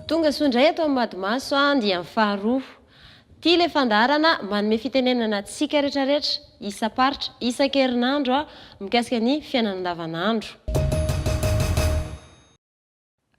Tonga soa indray eto amin'ny Madimaso andiany faharoa. Ity ilay fandaharana manome fitenenana antsika rehetrarehetra, isam-paritra, isan-kerinandro, mikasika ny fiainana andavanandro.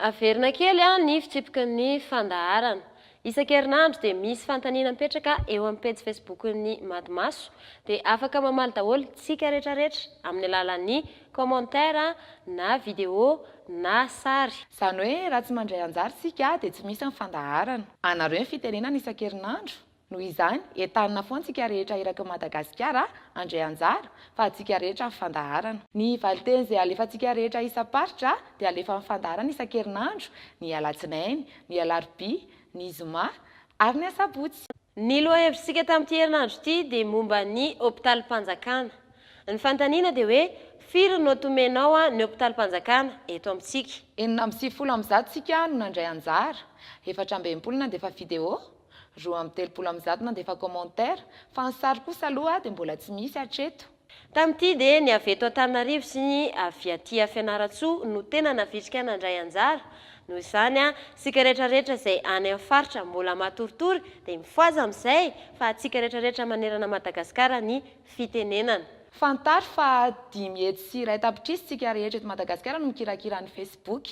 Averina kely ny fitsipiky ny fandaharana. Isan-kerinandro dia misy fanontaniana mipetraka eo amin'ny pejy Facebook-n'ny Mady Maso, dia afaka mamaly daholo tsika retraretra amin'ny alalan'ny commentaire na video na sary. Izany hoe raha tsy mandray anjara isika dia tsy misy ny fandaharana. Anareo ny fitenenana isan-kerinandro? Noho izany, entanina foana tsika rehetra eraky ny Madagasikara handray anjara, fa atsika rehetra ny fandaharana. Ny valinteny izay alefantsika rehetra isam-paritra dia alefa amin'ny fandaharana isan-kerinandro, ny alatsinainy, ny alarobia, ny zoma ary ny asabotsy. Ny lohahevitritsika tamin'ity herinandro ity dia momba ny hopitalim-panjakana. Ny fanontaniana dia hoe, firy no tomenao ny hopitalim-panjakana eto amintsika? Enina amby sivifolo amin'ny zato tsika no nandray anjara, efatra amby enimpolo nandefa video, Roa amby telopolo amin'ny zato nandefa commentaire, fa ny sary kosa aloha dia mbola tsy misy hatreto. Tamin'ity dia ny avy eto Antananarivo sy ny avy aty a Fianarantsoa no tena navitrika nandray anjara. Noho izany a, isika rehetra rehetra izay any amin'ny faritra mbola matoritory dia mifohaza amin'izay fa antsika rehetra rehetra manerana Madagasikara ny fitenenana. Fantaro fa dimy hetsy sy iray tapitrisa isika rehetra eto Madagasikara no mikirakira ny Facebook.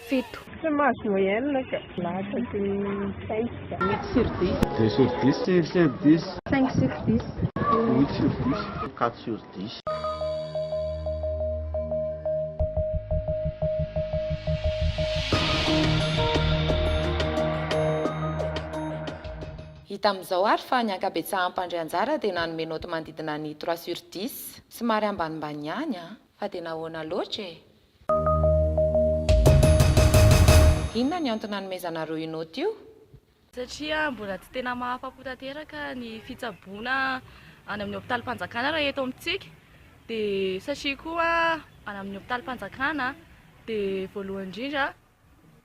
fito. Tsy mahazo moyenne ka. Lasa sy cinq ka. Huit sur dix. Deux sur dix. Cinq sur dix. Cinq sur dix. Huit sur dix. Quatre sur dix. Hita amin'izao ary fa ny ankabetsahan'ny mpandray anjara dia nanome naoty manodidina ny trois sur dix. Somary ambanimbany ihany an! Fa dia nahoana loatra e? Inona ny antony nanomezanareo io note io? Satria mbola tsy tena mahafapo tanteraka ny fitsaboana any amin'ny hopitalim-panjakana raha eto amintsika dia satria koa any amin'ny hopitalim-panjakana dia voalohany indrindra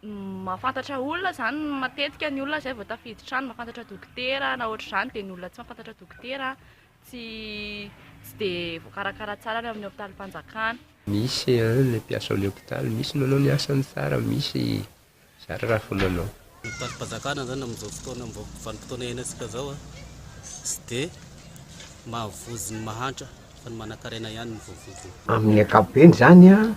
mahafantatra olona zany matetika ny olona zay vao tafiditra trano mahafantatra dokotera na ohatr'izany dia ny olona tsy mahafantatra dokotera tsy tsy de voakarakara tsara any amin'ny hopitalim-panjakana misy an ny mpiasa ao le hopitaly misy manao ny asany tsara misy zara raha vao manao. Ny hopitalim-panjakana zany amin'izao fotoana am'izao vanim-potoana iainantsika zao an tsy de mahavozy ny mahantra fa ny manankarena ihany no voavozona. Amin'ny ankapobeny zany an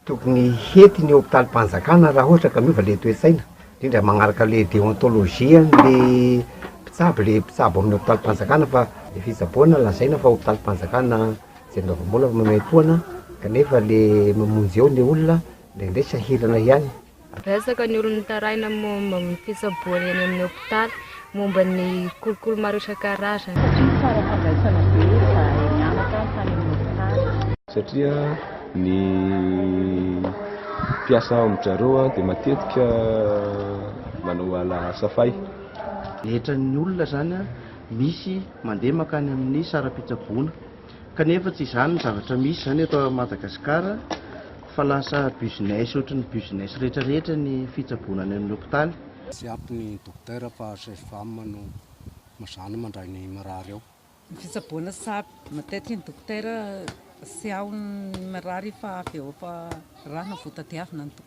Tokony hety ny hopitalim-panjakana raha ohatra ka miova ilay toe-tsaina, indrindra manaraka ilay déontologie an'ilay mpitsabo, ilay mpitsabo amin'ny hopitalim-panjakana fa efa itsaboana, lazaina fa hopitalim-panjakana izay mibavam-bola fa maimaimpoana kanefa ilay mamonjy eo ilay olona indraindray sahirana ihany. Betsaka ny olona mitaraina momba ny fitsaboana eny amin'ny hopitaly momba ny kolikoly maro isan-karazany. Satria ny tsara fandraisana be efa nihanatra tany amin'ny hopitaly. Satria ny mpiasa ao amin-dry zareo dia matetika manao ala safay. Rehetra ny olona izany misy mandeha mankany amin'ny saram-pitsaboana. Kanefa tsy izany ny zavatra misy izany eto Madagascar fa lasa business ohatry ny business rehetra rehetra ny fitsaboana any amin'ny hopitaly. Tsy ampy ny docteur fa sage femme no mazàna mandray ny marary ao. Ny fitsaboana tsy ampy, matetika ny docteur tsy ao ny marary fa avy eo fa rà na vao tadiavina ny docteur.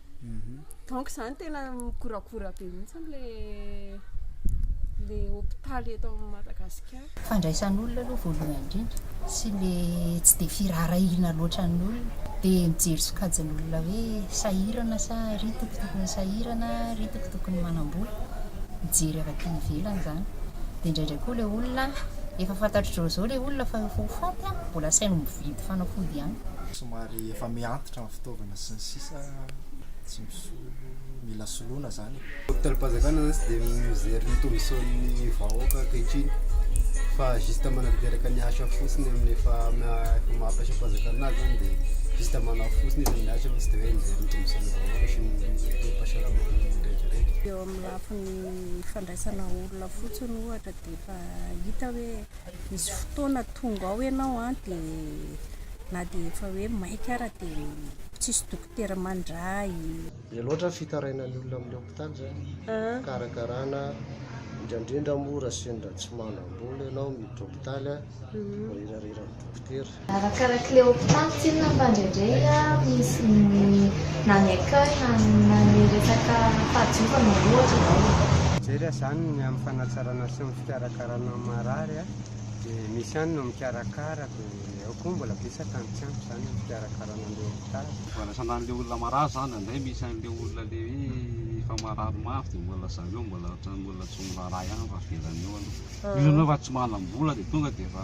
Donc zany tena mikoragora be mihitsy amle le hopitaly eto Madagasikara. Fandraisan'olona aloha voalohany indrindra sy le tsy dia firaharahiana loatra ny olona dia mijery sokajin'olona hoe sahirana sa ry toko tokony sahirana ry toko tokony manambola mijery avy aty ivelany izany dia indraindray koa le olona efa fantatr'izao izao le olona fa efa ho faty an mbola asainy mividy fanafody ihany somary efa mihantitra fitaovana sy ny sisa tsy misolo, mila soloina zany e. Hopitalm-panjakana zany tsy dia mijery ny tombontsoan'ny vahoaka ankehitriny fa juste manatanteraka ny asa fotsiny amin'ny efa efa maha mpiasam-panjakana azy zany dia juste manao fotsiny izy ny asa fa tsy dia hoe mijery ny tombontsoan'ny vahoaka sy ny toe-pahasalaman'ny rehetra rehetra. Eo amin'ny lafiny fandraisana olona fotsiny ohatra dia efa hita hoe Misy fotoana tonga ao ianao an dia na dia efa hoe maika ara dia tsisy dokotera mandray. Be loatra ny fitarainan'ny olona amin'ny hopitaly izany fikarakarana indraindrindra moa raha sendra tsy manam-bola ianao miditra hopitaly an, voahirahira amin'ny dokotera. Arakarak'ilay hopitaly tsinona mba indraindray misy ny na ny accueil na na ny resaka fahadiovana ohatra izao e. Jereo izany ny amin'ny fanatsarana sy ny fikarakarana ny marary a, dia misy ihany no mikarakara dia ao koa mbola betsaka ny tsy ampy izany amin'ny fikarakarana an'ilay hopitaly. Fandraisana an'ilay olona marary izany dia indraindray misy an'ilay olona ilay hoe efa marary mafy dia mbola zareo mbola ohatran'ny mbola tsy miraharaha ihany fa avelany eo aloha. Misy an'ireo efa tsy manam-bola dia tonga dia efa.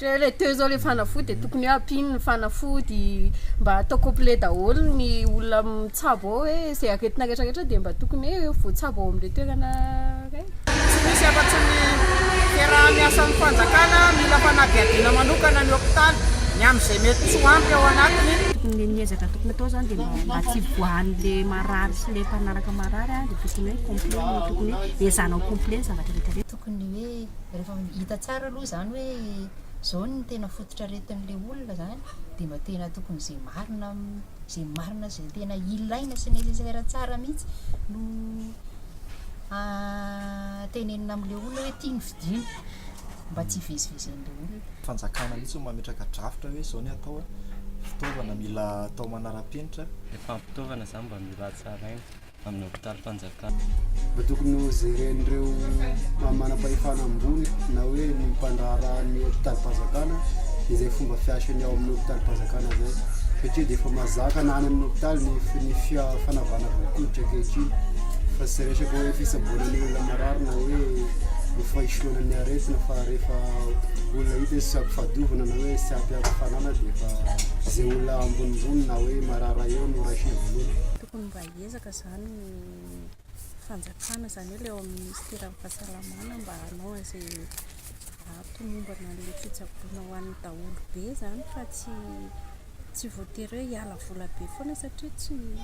Re teo izao le fanafody dia tokony hoe ampino ny fanafody mba atao complet daholo ny olona mitsabo ao hoe izay aretina rehetra rehetra dia mba tokony hoe voatsabo ao amin'ireo toerana ireny. Tsy misy afa-tsy ny fiaraha-miasan'ny fanjakana, mila fanadihadiana manokana ny hopitaly ny amin'izay mety tsy ho ampy ao anatiny. Tokony ny ezaka tokony atao izany dia mba tsy hivoahan'ilay marary sy ilay mpanaraka marary dia tokony hoe complet no tokony hoe ezahana ho complet ny zavatra rehetra rehetra. Tokony ny hoe rehefa hita tsara aloha izany hoe izao no tena fototr'aretin'ilay olona izany dia mba tena tokony izay marina, izay marina sy izay tena ilaina sy nécessaire tsara mihitsy no tenenina amin'ilay olona hoe ity no fidiny mba tsy hivezivezen'ilay olona. Fanjakana mihitsy no mametraka drafitra hoe izao ny atao, fitaovana mila atao manara-penitra. Ny fampitaovana izany mba mila hatsaraina. amin'ny hopitalim-panjakana. Mba tokony ho jeren'ireo manam-pahefana ambony na hoe ny mpandraharaha ny hopitalim-panjakana izay fomba fiasany ao amin'ny hopitalim-panjakana izay satria dia efa mazaka na any amin'ny hopitaly ny ny fia- fanavahana volon-koditra ankehitriny fa tsy resaka hoe fitsaboana ny olona marary na hoe ny fahisoana ny aretina fa rehefa olona hita hoe tsy ampy fahadiovana na hoe tsy ampy ampy fanana dia efa izay olona ambonimbony na hoe marary eo no raisina voalohany. Mila ezaka izany ny fanjakana, izany hoe ilay ao amin'ny minisiteran'ny fahasalamana mba hanao an'izay hahatomombana an'ilay fitsaboana ho an'ny daholobe izany fa tsy tsy voatery hoe hiala vola be foana satria tsy ny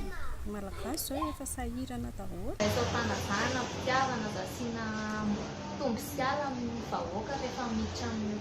malagasy izao efa sahirana daholo. Atao fanavahana, fitiavana, mba asiana tombo sy ala amin'ny vahoaka rehefa miditra amin'ny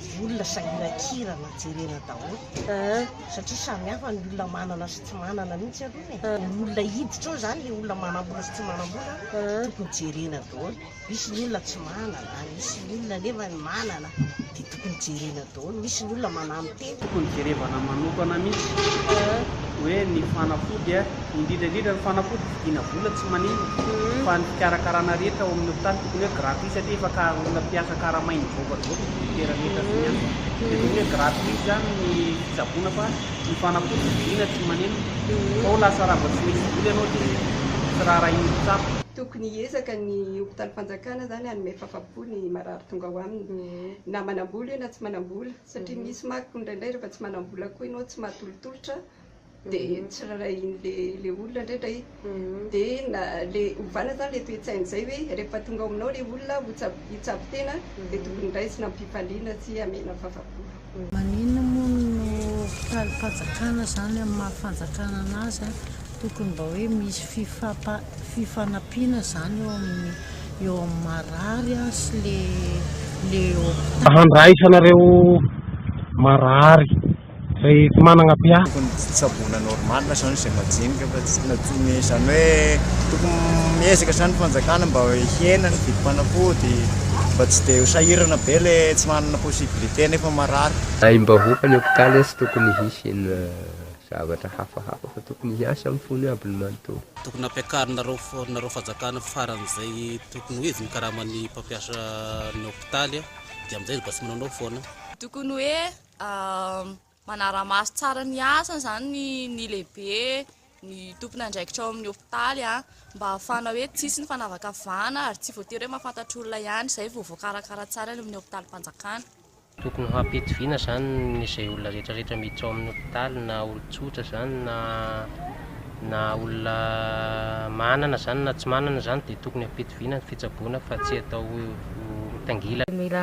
Volona sa hirakirana jerena daholo satria samy hafa ny olona manana sy tsy manana mihitsy aloha e. Ny olona hiditra ao zany le olona manambola sy tsy manambola tokony jerena daholo. Misy ny olona tsy manana, misy ny olona nefa ny manana de tokony jerena daholo. Misy ny olona manano tena. Tokony jerevana manokana mihitsy hoe ny fanafody indrindra indrindra ny fanafody. Vidiana vola tsy manimba fa ny fikarakarana rehetra ao amin'ny hopitaly tokony hoe gratuit satria efa ka olona mpiasa karamainy mivoaka daholo ny dokotera rehetra sy ny asa dia tokony hoe gratuit izany ny fitsaboana fa ny fanafody vidiana tsy manimba fa ho lasa raha vao tsy misy vola ianao dia tsy raharahian'ny mpitsabo. Tokony hiezaka ny hopitalim-panjakana izany hanome fafa-po ny marary tonga ao aminy na manam-bola io na tsy manam-bola satria misy manko indraindray rehefa tsy manam-bola koa ianao tsy mahatolotolotra de ny tsirairay iny le le olona ndray ndray de na le ovana zany le toe-tsainy zay hoe rehefa tonga ao aminao le olona hotsabo hitsabo tena de tokony raisina amim-pifaliana sy amena fafa-po. Maninona moa no hopitalim-panjakana zany amin'ny maha fanjakana anazy an? Tokony mba hoe misy fifampa fifanampiana zany eo amin'ny eo amin'ny marary an sy le le hopitaly. Handraisanareo marary. Rehefa managna PA. Tokony tsaboina normal zany izay majinika fa tsy natsomy izany hoe tokony miezaka izany ny fanjakana mba hihena ny vidim-panafody mba tsy dia ho sahirana be le tsy manana possibilité nefa marary. Aim-bahoaka ny hopitaly tsy tokony hisy ny zavatra hafahafa fa tokony hiasa amin'ny fony aby ny manontolo. Tokony ampiakarinareo nareo fanjakana faran'izay tokony ho izy ny karaman'ny mpampiasa ny hopitaly dia amin'izay izy mba tsy manaonao foana. Tokony hoe Manara-maso tsara ny asany izany ny lehibe, ny tompon'andraikitra ao amin'ny hopitaly mba hahafahana hoe tsy hisy ny fanavakavahana ary tsy voatery hoe mahafantatra olona ihany izay vao voakarakara tsara any amin'ny hopitalin-panjakana. Tokony ho hampidi-vina izany izay olona rehetrarehetra miditra ao amin'ny hopitaly na olon-tsotra izany na na olona manana izany na tsy manana izany dia tokony hampidi-vina ny fitsaboana fa tsy atao ho mitangilana. Mila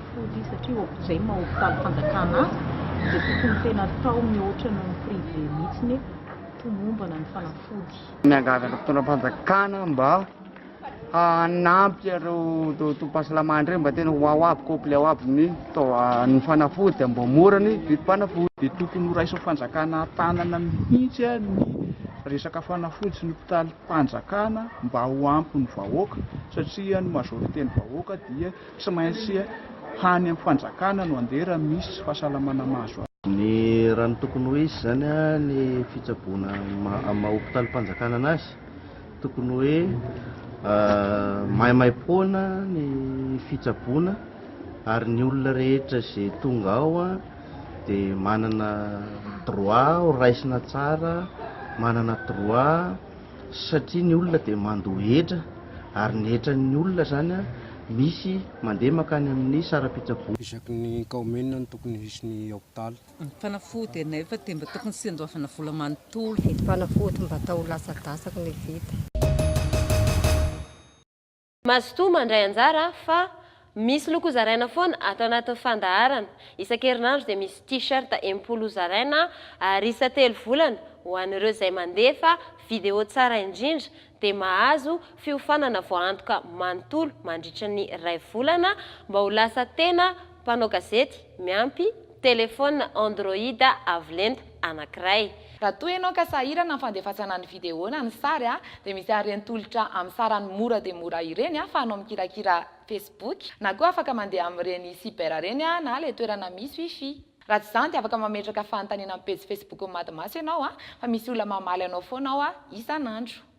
Fody satria hopjay maha hopitaly fanjakana azy dia tokony tena atao mihoatra noho ny privé mihitsiny e, tomombana ny fanafody. Miangavy an'ireo mpitondram-panjakana mba hanampy ireo tobim-pahasalamana ireny mba tena ho ao aby, complet ao aby ny ny fanafody dia mba mora ny vidim-panafody. Dia tokony ho raisin'ny fanjakana an-tanana mihitsy ny resaka fanafody sy ny hopitalim-panjakana mba ho ampy ny vahoaka satria ny majorité ny vahoaka dia. Tsy maintsy hany am fanjakana no andeha raha misy fahasalamana mahazo azy. Ny raha ny tokony ho hisy izany ny fitsaboana am maha hopitalim panjakana anazy tokony hoe maimaipoana ny fitsaboana ary ny olona rehetra izay tonga ao dia manana droit ho raisina tsara, manana droit. satria ny olona dia mandoa hetra ary ny hetran'ny olona izany misy mandeha mankany amin'ny saram-pitsaboana. Isaky ny kaominina no tokony hisy ny hopitaly. Fanafody anay fa dia mba tokony tsy andoavana vola manontolo. Vidim-panafody mba atao ho lasa dasaky ny vita. Mazotoa mandray anjara fa misy loko hozaraina foana ato anatin'ny fandaharana. Isan-kerinandro dia misy T-shirt enimpolo hozaraina ary isan-telo volana ho an'ireo izay mandefa video tsara indrindra dia mahazo fiofanana voaantoka manontolo mandritra ny iray volana mba ho lasa tena Mpanao gazety miampy telefaonina Android avo lenta anankiray. Raha toa ianao ka sahirana amin'ny fandefasana ny video na ny sary dia misy an'ireny tolotra amin'ny sarany mora dia mora ireny ahafahanao mikirakira Facebook na koa afaka mandeha amin'ireny cyber ireny na ilay toerana misy wifi. Raha tsy izany dia afaka mametraka fanontaniana amin'ny pejy Facebook-n'ny Mad Maso ianao fa misy olona mamaly anao foana ao isan'andro.